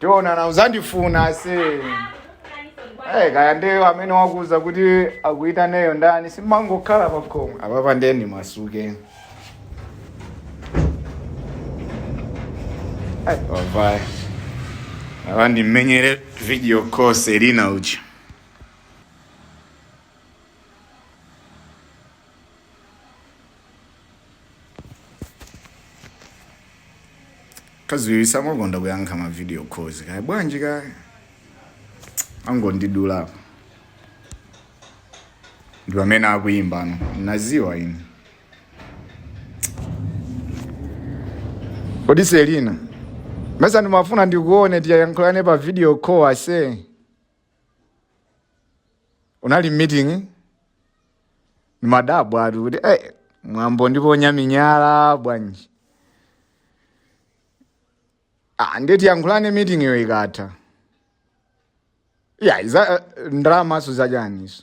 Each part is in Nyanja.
tionana uzandifuna ase hey, kaya ndiyo amene wakuuza kuti akuitaneyo ndani simangokhala pakhomo apapa nde ndimasuke Ai, wavaye apa ndimumenyere video call selina uja kaziwiri samakonda kuyankha ma video calls kaya bwanji kaya angondidula apa ndi pamene akuyimbano wadziwa ine kodi selina mesa ndimafuna ndikuone tiyankhulane pa video call ase uli pa meeting ndimadabwa ati kuti eh, mwambo ndipo nyaminyala bwanji ah, nde tiyankhulane meeting iyo ikatha eya izi ndalamaso zachaniso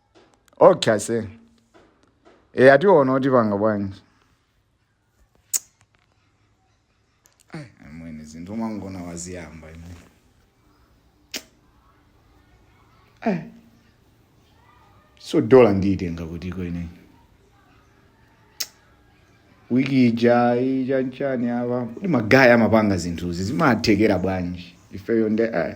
okay ase e ai tiona kuti tipanga bwanji Ai, amwene zinthu mwangona waziyamba ine Ai. so dola ndiyitenga kutiko ine wiki ija nchani apa kuti magaya amapanga zinthuzi zimathekera bwanji ifeyo nde ai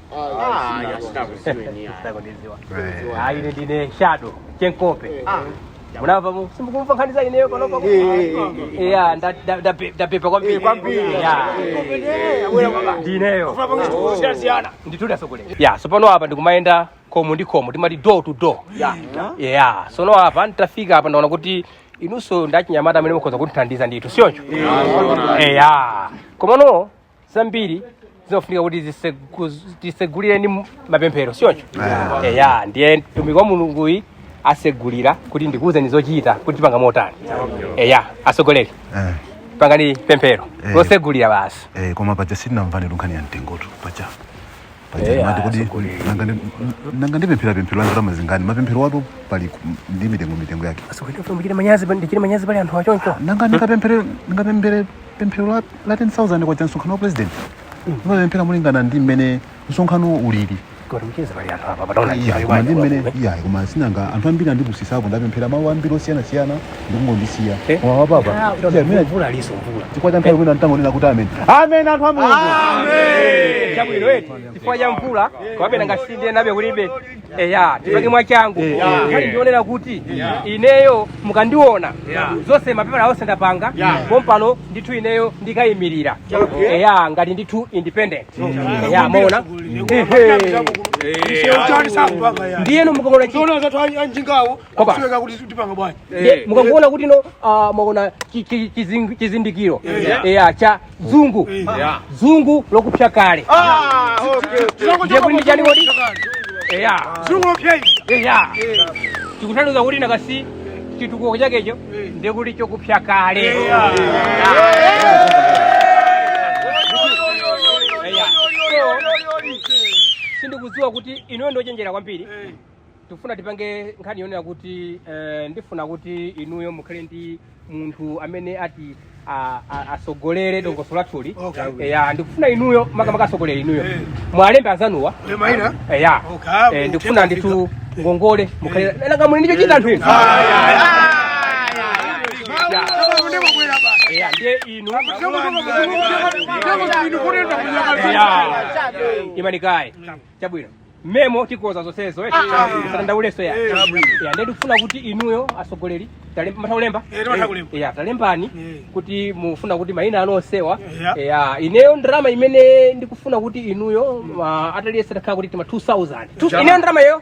Ah, ya sitakuziweni ya. Ndakudiziwa. Eh. Ah, ine ndine shadow chenkope munamva mu- simukumva nkhani za ineyo panopa ku- Yeah, nda- nda- ndape- ndapepa kwambiri Yeah. ndineyo ndithudi asogoleri ya sopano apa ndikumayenda khomo ndi khomo timati door to door ya tsono apa nditafika apa ndaona kuti inunso nda chinyamata amene mukhoza kutithandiza ndithu siyoncho eya komano zambiri zimafunika kuti zisegu- tisegulire ndi m- mapemphero sichoncho eya ndiye mtumiki wa mulunguyi asegulira kuti ndikuwuzeni zochita kuti tipanga motani eya asogoleri Eh, pangani pemphero Eh. losegulira basi eh, koma paja sitinamvane tu nkhani ya mtengotu paja paja Eh, mmati kodi atsogoleri. nanga ndi- nanga ndipemphera pemphero la ndalama zingani mapempherowatu pali ku- ndi mitengo mitengo yake Asogoleri musandichititse manyazi pa- ndichite manyazi pali anthu achoncho. nanga ndikapemphere ndikapemphere pemphero la la 10000 kwacha msonkhano wa president ndimapemphera mulingana ndi mmene msonkhano ulili Kodi mcheze pali anthu apa padaona Iya, njira koma ndi mmene yobali. iya koma sinanga anthu ambiri andipusisako ndapemphera malo ambiri osiyanasiyana ndikungondisiya Eh? Mwa apapa Ah, kuti Chifukwa amene- mvula aliso mvula chifukwa cha nthawi imene ntangonena kuti amen amen anthu a mulungu chabwino eti chifukwa cha mvula kapena ngati tidzinabe kulibe eya tipange mwachangu kali ndionera kuti ineyo mukandiona zonse mapepala onse ndapanga pompano ndithu ineyo ndikayimirira eya ngati ndithu independent eya maona Ehe. ndiyeno mukaona anjingawo Koba. Sizeka kuti tipanga bwanji. Ye, mukangoona kuti no ah, mwaona chi- chi- chizing- chizindikiro Yeah. Yeah, cha dzungu Yeah. dzungu lokupsa kale Ah, okay. Tilango Ndiye kuti ndi chani kodi? chakale. Yeah. Dzungu lopsa izi. Yeah. tikutanthauza kuti nakasi chitukuko chakecho ndiye kuti chokupsa kale Yeah. sindikudziwa kuti inuyo ndi ochenjera kwambiri ndikufuna tipange nkhani yonena kuti eh, ndifuna kuti inuyo mukhale ndi munthu amene ati a- a- atsogolere dongosolo lathuli Okay. ya ndikufuna inuyo makamaka atsogolere inuyo Eh. muwalembe anzanuwa Ule maina? Eh, ya Okay, ah, Eh, ndikufuna ndithu ngongole mukhale nanga muli ndi chochita anthu inu Sasa unema kwela basi. Ya, ndiye inu Sema sema sema sema. Sema sema inu kule ndo kunyama. Ya. imani kaye chabwino memo tikonza zonsezo eti zatandauleso ya ya ndiye ndikufuna kuti inuyo atsogoleri mumatha kulemba Eh, timatha kulemba. ya talembani Eh. kuti mufuna kuti maina anu onsewa Ya. ya ineyo ndalama imene ndikufuna kuti inuyo ma- aliyense atakhala kuti tima 2000 Two- ineyo ndalama iyo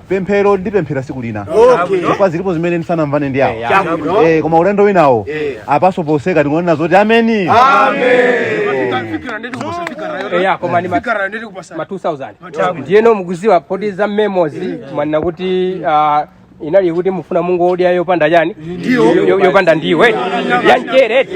pemphero ndipemphera siku lina Okay. chifukwa zilipo zimene ndisanamvane ndi awo Chabwino. Eh, koma ulendo winawo Eh. apatso potseka tingonena zoti ameni eya koma ni ma- ma 2000 ndiyeno mukudziwa poti za memos mwanena kuti ah, inali kuti mufuna mungodya yopanda chani Yo- yo- yopanda ndiwo yamchere eti